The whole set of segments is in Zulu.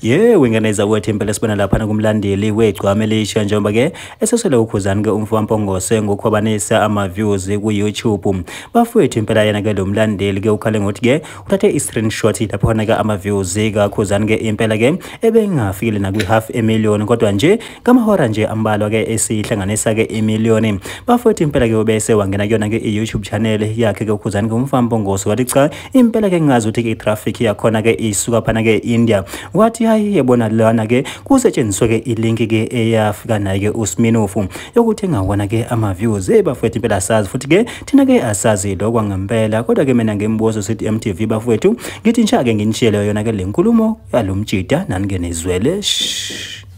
ye wingeneza kwethu impela sibona lapha kumlandeli wegcwama elisha njengoba ke esesele ukhuzani ke umfo wampongose ngokukhwabanisa ama-views ku-youtube bafowethu impela yena ke lo mlandeli ke ukhale ngokuthi ke uthathe i-screenshot lapho khona ke ama-views kakhuzani ke impela ke ebengafikile nakwi-half emillion kodwa nje ngamahora nje ambalwa ke esihlanganisa ke imiliyoni bafowethu impela ke ubese wangena kuyona ke i-youtube channel yakhe ke ukhuzani ke umfana mbongoso wathi cha impela ke ngingazi ukuthi ke i-traffic yakhona ke isuka phana ke india wathi hayi yebona lana ke kusetshenziswe ke ilink ke eyafika naye ke usminofu yokuthi engawona ke ama-views hey bafowethu impela asazi futhi ke thina ke asazi lokwa ngempela kodwa ke mina ngimbuzo sithi mtv bafowethu ngithi ngisha ke nginishiyele yona ke le nkulumo yalo mjida naningenizwele shh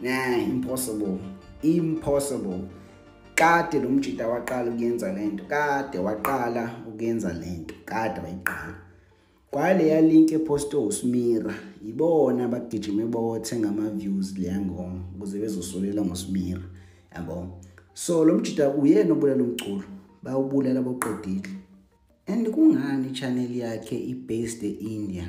nah impossible impossible kade lo mjita waqala ukuyenza lento kade waqala ukuyenza lento kade wayiqala kwaleya link eposte usmira yibona abagijime bothenga ama-views leya ngoma ukuze bezosolela ngosmira yabo so lo mjita uyena obulala umculo bawubulala boqedile and kungani i-channel yakhe i-based e-india